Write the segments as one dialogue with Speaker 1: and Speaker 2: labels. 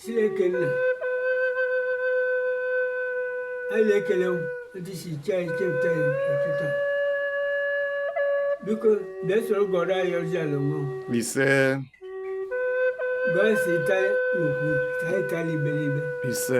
Speaker 1: Chineke nna anyị na-ekele ndị si iche anyị chepụta ya ọtụtụ biko bịa soro gọrọ anyị ọjị ala mmụọ ise gọọ si taa n'okwu taa ịtala iberibe ise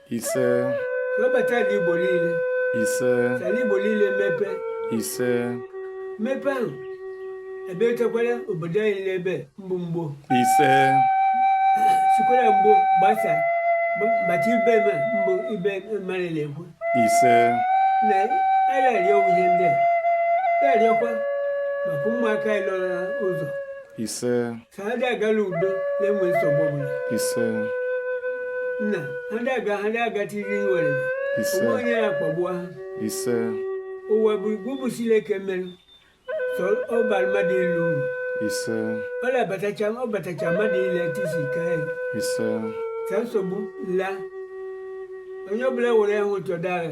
Speaker 2: ise webata ala
Speaker 1: igbo niile
Speaker 2: ise ala igbo niile
Speaker 1: mepe
Speaker 2: ise mepe ahụ
Speaker 1: ebe echekwara obodo anyị n'ebe mbụ mgbo ise
Speaker 2: sikwara
Speaker 1: mgbo gbasa bata ibe ma mbụ ibe mmadụ na-ekwu
Speaker 2: ise
Speaker 1: nna anyị na-arịọ ihe ndị a arịọkwa maka ụmụaka anyị nọ n'ụzọ ise
Speaker 2: ka ha ga-aga n'udo
Speaker 1: n'enwe nsogbu ọbụla
Speaker 2: ise
Speaker 1: nna ha ga-aga ha ga-agatiri nwere ise ụmụ onye
Speaker 2: ya akpagbu ha
Speaker 1: ise
Speaker 2: ụwa bụ
Speaker 1: gị bụ Sileke mere sị ọ baara mmadụ ile uru
Speaker 2: ise ọ na-abatacha
Speaker 1: ọ batacha mmadụ ile tisi ka ya ise
Speaker 2: ka nsogbu
Speaker 1: la onye ọbụla were ahụ ụtọ dara